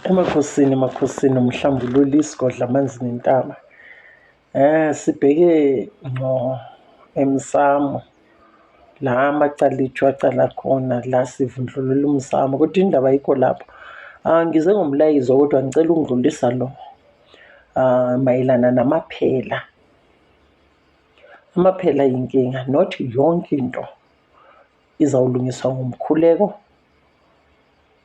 Emakhosini emakhosini umhlambululi isigodla amanzi nentaba. Eh sibheke ngqo emsamo la amacala ethu acala khona la sivundlulula umsamo kodwa indaba ayikho lapho. Ah ngize ngomlayezo kodwa ngicela ungidlulisa lo. Ah mayelana namaphela. Amaphela yinkinga not yonke into izawulungiswa ngomkhuleko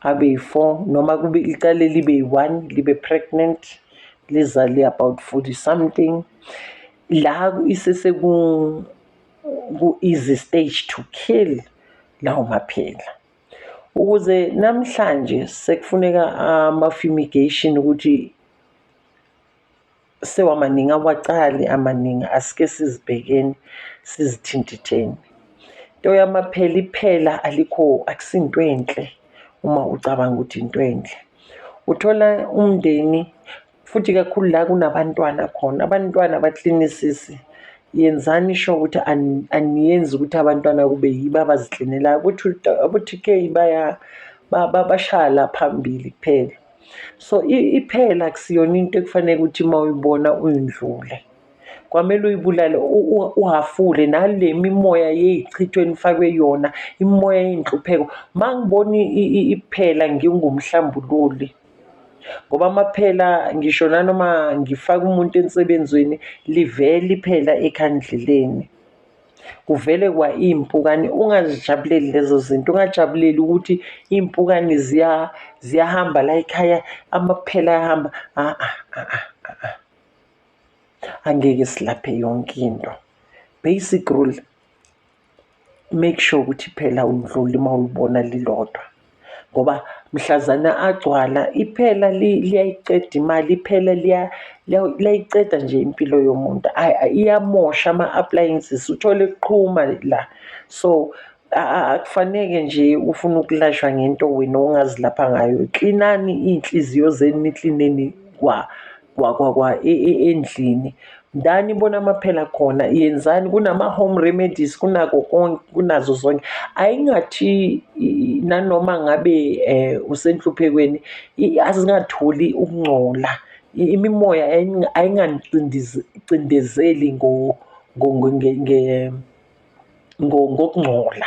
abe yi-four noma kube icale libe yi-one libe pregnant lizale about forty something la iseseku ku-easy stage to kill lawo maphela ukuze namhlanje sekufuneka ama-fumigation ukuthi sewamaningi awacali amaningi asike sizibhekeni sizithintitheni into yamaphela iphela alikho akusinto enhle uma ucabanga ukuthi into enhle uthola umndeni futhi kakhulu la kunabantwana khona abantwana baklinisisi yenzani sho ukuthi aniyenzi ukuthi abantwana kube yibo abaziklinelayo ukuthi abo-tk baya bashaya la phambili kuphela so iphela kusiyona into ekufanele ukuthi uma uyibona uyindlule kwamele uyibulale uhafule nale mimoya yeyichithwe enifakwe yona imimoya yeyinhlupheko uma ngibona iphela ngingumhlambululi ngoba amaphela ngisho nanoma ngifaka umuntu ensebenzweni livele iphela ekhandleleni kuvele kwa iy'mpukane ungazijabuleli lezo zinto ungajabuleli ukuthi iy'mpukane ziyahamba la ekhaya amaphela ayahamba a-a a-a a-a angeke silaphe yonke into basic rule make sure ukuthi phela undluli uma ulibona lilodwa ngoba mhlazana agcwala iphela liyayiqeda imali iphela liyayiqeda nje impilo yomuntu iyamosha ama-appliances uthole kuqhuma la so akufaneke nje ufuna ukulashwa ngento wena ongazilapha ngayo klinani iy'nhliziyo zenu niklineni kwa kwa kwa kwa e- e- endlini ndani ibona amaphela khona yenzani kunama-home remedies kunako konke kunazo zonke ayingathi i- nanoma ngabe um usenhluphekweni i- azingatholi ukungcola I- imimoya aying- ayinganicindezeli ngo- ngo- ngo- nge- nge- ngo- ngokungcola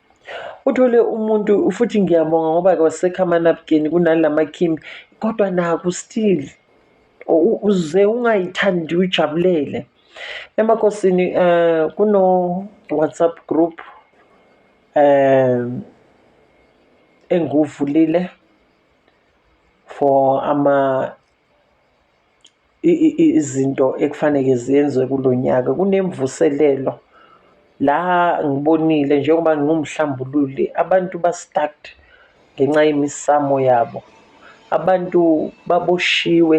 Uthole umuntu futhi ngiyabonga ngoba kwasekho amanabukeni kunala makhimbi kodwa naku still uze ungayithandi uyijabulele. Emakosini eh kuno WhatsApp group eh enguvulile for ama izinto ekufaneke zenziwe kulo nyaka kunemvuselelo la ngibonile njengoba ngiwumhlambululi abantu ba-stuck ngenxa yemisamo yabo abantu baboshiwe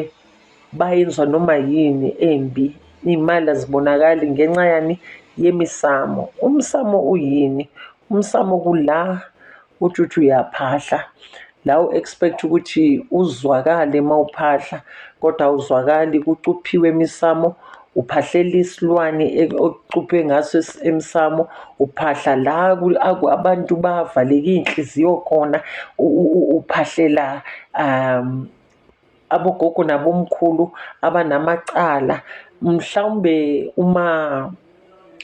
bayenzwa noma yini embi iy'mali azibonakali ngenxa yani yemisamo. Umsamo uyini? Umsamo kula uthi uyaphahla la u-expect ukuthi uzwakale uma uphahla kodwa awuzwakali kucuphiwe emisamo uphahlela isilwane okucuphe ngaso emsamo uphahla la abantu bavaleke iy'nhliziyo khona uphahlela um abogogo nabomkhulu abanamacala mhlawumbe uma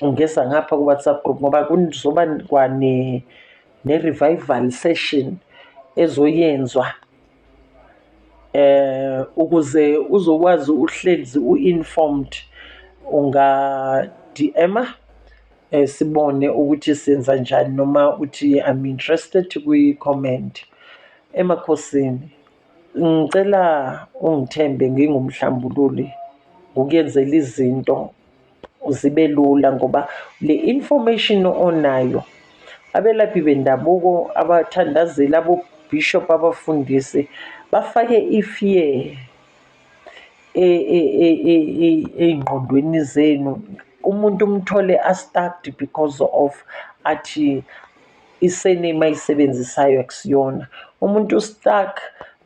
ungeza ngapha ku-whatsapp group ngoba kuzoba kwane ne-revival session ezoyenzwa eh ukuze uzokwazi uhlezi u-informed unga-DM-a eh sibone ukuthi senza njani noma uthi I'm interested kwi-comment emakhosini ngicela ungithembe ngingumhlambululi ngokuyenzela izinto zibe lula ngoba le information onayo abelaphi bendabuko abathandazeli abobishop abafundisi bafake ifear e, e, e, ey'ngqondweni zenu umuntu umthole astucked because of athi isename ayisebenzisayo akusiyona umuntu ustuck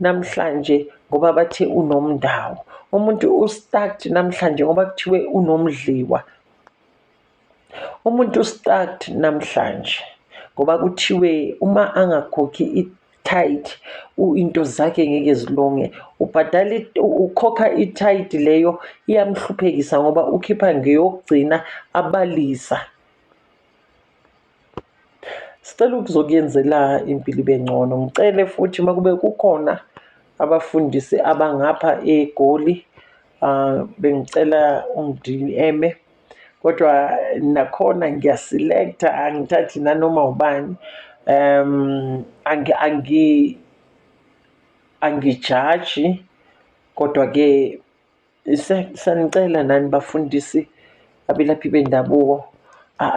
namhlanje ngoba bathe unomndawo umuntu ustuck namhlanje ngoba kuthiwe unomdliwa umuntu ustuck namhlanje ngoba kuthiwe uma angakhokhi tight into zakhe ngeke zilunge ubhadala ukhokha i-tight leyo iyamhluphekisa ngoba ukhipha ngeyokugcina abalisa Sicela ukuzokuyenzela impilo ibe ngcono. Ngicele futhi uma kube kukhona abafundisi abangapha eGoli ah, bengicela ungidiyeme kodwa nakhona ngiyasilektha angithathi nanoma ubani um angi angi angijaji kodwa-ke Sanicela nani bafundisi abelaphi bendabuko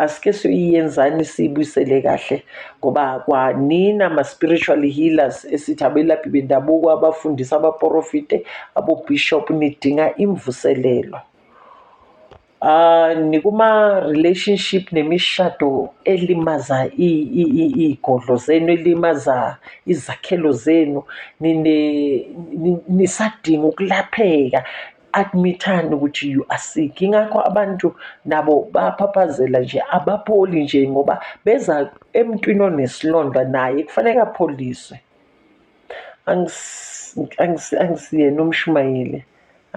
asike siyenzani siyibuyisele kahle ngoba kwanina ma-spiritual healers esithi abelaphi bendabuko abafundisa abaporofite abobhishobhu nidinga imvuselelo. Uh, nikuma-relationship nemishado elimaza iy'godlo zenu elimaza izakhelo zenu nisadinga ukulapheka admithani ukuthi you are sick ingakho abantu nabo baphaphazela nje abapholi nje ngoba beza emntwini onesilonda naye kufanele apholiswe angisiyena umshumayeli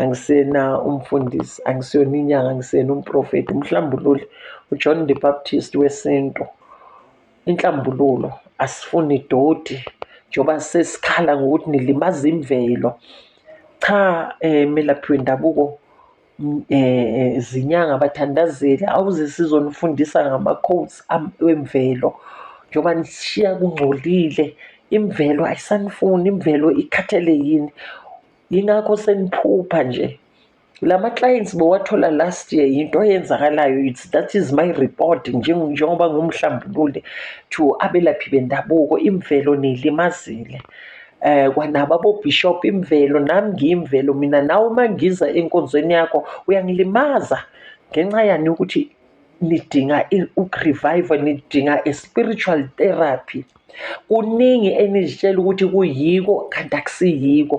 angisena umfundisi angisiyona inyanga angisiyena umprofethi umhlambululi ujohn the baptist wesintu inhlambululo asifuni doti njengoba sesikhala ngokuthi nilimaza imvelo cha um melaphi wendabuko um zinyanga abathandazeli awuze sizonifundisa ngama-codes wemvelo njengoba nisishiya kungcolile imvelo ayisanifuni imvelo ikhathele yini yingakho seniphupha nje la ma-clients bowathola last year yinto eyenzakalayo it's that is my report njengoba ngumhlambululi to abelaphi bendabuko imvelo niyilimazile eh kwanabo abobishop imvelo nami ngiyimvelo mina nawe uma ngiza enkonzweni yakho uyangilimaza ngenxa yani ukuthi nidinga ukurevive nidinga i-spiritual therapy kuningi enizitshela ukuthi kuyiko kanti akusiyiko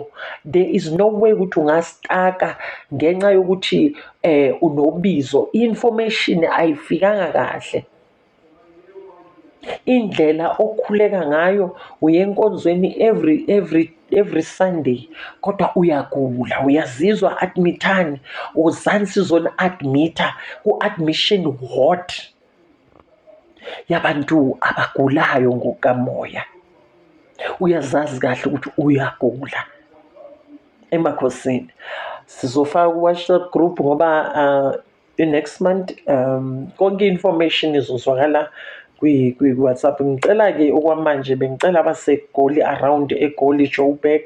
there is no way ukuthi ungastaka ngenxa yokuthi um unobizo i-information ayifikanga kahle indlela okhuleka ngayo uye enkonzweni every every every sunday kodwa uyagula uyazizwa admithani uzani sizoni admitha ku-admission ward yabantu abagulayo ngokamoya uyazazi kahle ukuthi uyagula emakhosini sizofaka ku-whatsapp group ngoba uh, the next month um konke information izozwakala kwi-whatsapp ngicela-ke okwamanje bengicela abasegoli around egoli joburg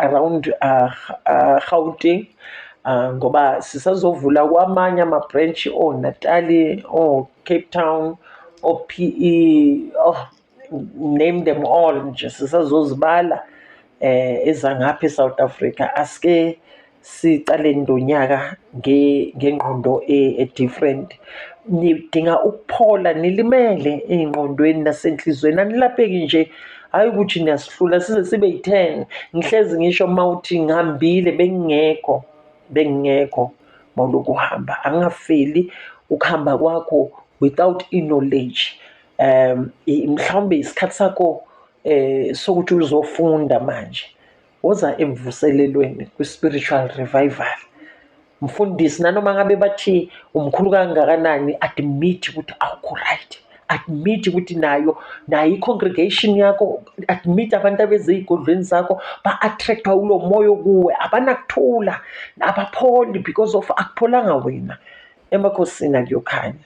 around uh, uh, gauteng uh, ngoba sisazovula kwamanye ama-branch onatali oh, o-cape town o-p e oh, name them all nje sisazozibala eh ezangapha eSouth Africa aske siqale ndonyaka ngengqondo e-, e-different nidinga ukuphola nilimele ey'ngqondweni nasenhliziyweni anilapheki nje hhayi ukuthi niyasihlula size sibe yi-ten ngihlezi ngisho uma uthi ngihambile bengingekho bengingekho mawulokhu uhamba angingafeli ukuhamba kwakho without i-knowledge um mhlawumbe isikhathi sakho eh sokuthi uzofunda manje woza emvuselelweni kwi-spiritual revival mfundisi nanoma ngabe bathi umkhulu kangakanani admit ukuthi awukho right admit ukuthi nayo nayo i-congregation yakho admit abantu abeze ey'godlweni zakho ba-attractwa ulo moya okuwe abanakuthula abapholi because of akupholanga wena emakhosini akuyokhanya